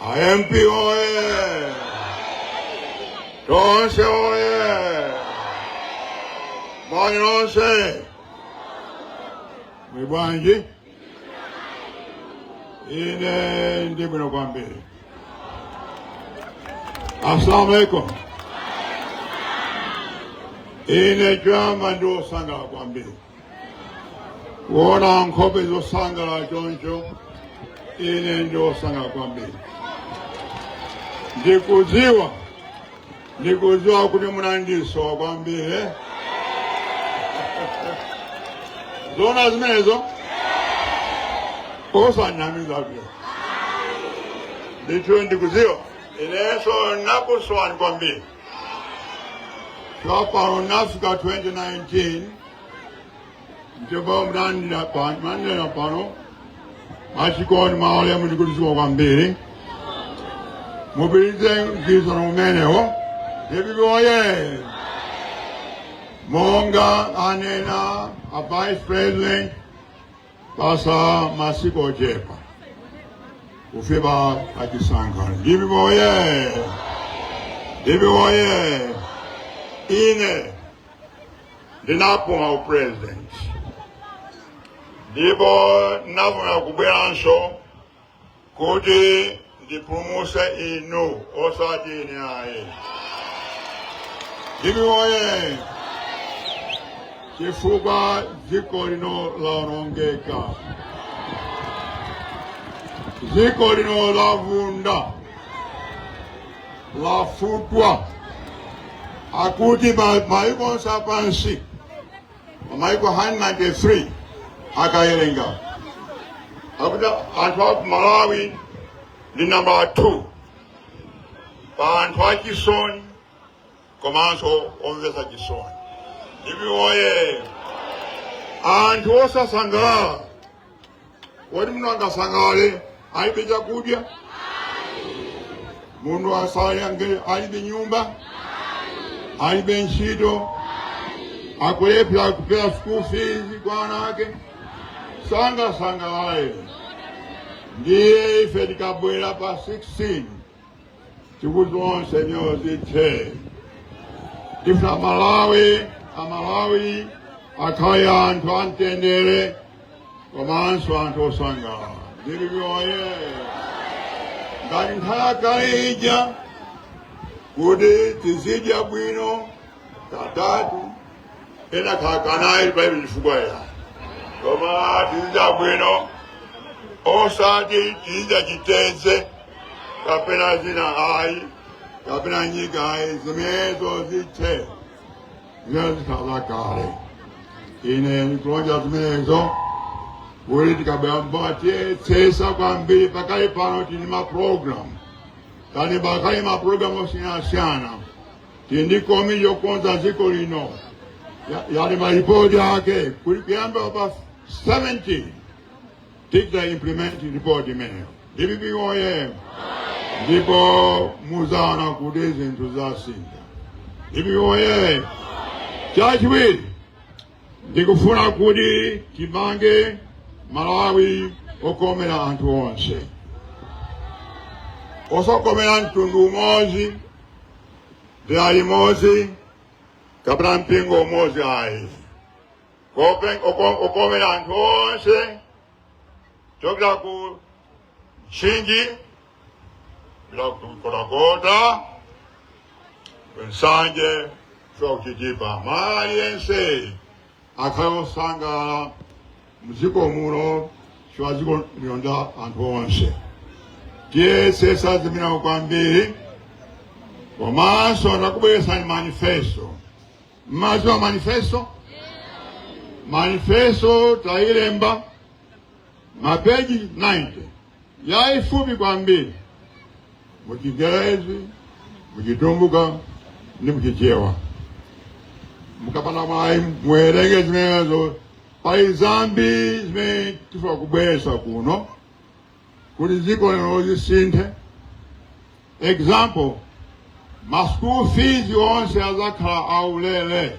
amp oye tonse oye moni nonse muli bwanji ine ndi bwino kwambiri assalamu alaikum ine choyamba ndi osangalala kwambiri kuona nkhope zosangalala choncho ine ndi wosangalala kwambiri ndikudziwa ndikudziwa kuti munandisowa kwambiri eh? zoona zimenezo osanamiza pia ndithu ndikudziwa inenso nakusowani kwambiri Chopano nafika 2019 ndipo munandilandira pano mwachikondi mwaulemu ndikudziwa kwambiri mupitirize mgwirizano umenewo DPP oye monga anena a vice president patsala masiku ochepa kufika pachisankho DPP oye DPP oye ine ndinapuma upresident ndipo ndinafuna kubweranso kuti ndipulumutse inu osati ine ayi DPP oye chifukwa dziko lino laonongeka dziko lino lavunda lafutwa akuti ma- maiko onse apansi maiko 193 akayerenga akuti anthu aku malawi ndi nambala 2 pa anthu achisoni komanso omvetsa chisoni DPP oye anthu osasangalala Kodi munthu angasangalale alibe chakudya? Munthu asangalale alibe nyumba? Alibe ntchito? Akulephera kupereka school fees kwa ana ake? Sangasangalale. Ndiye ife tikabwera pa 16 tikuti zonsezo zithe tifuna amalawi amalawi akhale anthu amtendere komanso anthu osangalala DPP oye ngati nthawi ija kuti tizidya bwino katatu ena kakanayi palibe chifukwa ya koma tizidya bwino osati tizidya chiteze kapena zina ayi kapena nyika ayi zimenezo zithe zikhala kale ine ndikulonjeza zimenezo kuti tikabwera mpaka tiyesetsa kwambiri pakali pano tili ndi maprogramu tani pakali maprogramu osiyanasiyana tili ndi komiti yokonza dziko lino yalemba lipoti lake kuti kuyamba pa 17 tidza implement report imeneyo dpp oye ndipo muzaona kuti zinthu zasintha dpp oye chachiwiri ndikufuna kuti timange malawi okomera anthu onse osakomera mtundu umodzi dera limodzi kapena mpingo umodzi ayi Open- oko- okomera anthu onse kuchokera ku Mchinji, Dowa ku Nkhotakota nsanje ku Chitipa aliyense akhale osangalala mdziko muno chifukwa dziko lino ndi la anthu onse tiyesetsa zimenezo kwambiri komanso ndakubweretserani manifesto mmadziwa manifesto manifesto tayilemba mapeji 90 yayifupi kwambiri muchingerezi muchitumbuka ndi muchichewa mukapeza mwayi muwerenge zimenezo pali zambiri zimene tifuna kubweretsa kuno kuti dziko lino lisinthe example ma school fees onse azakhala aulere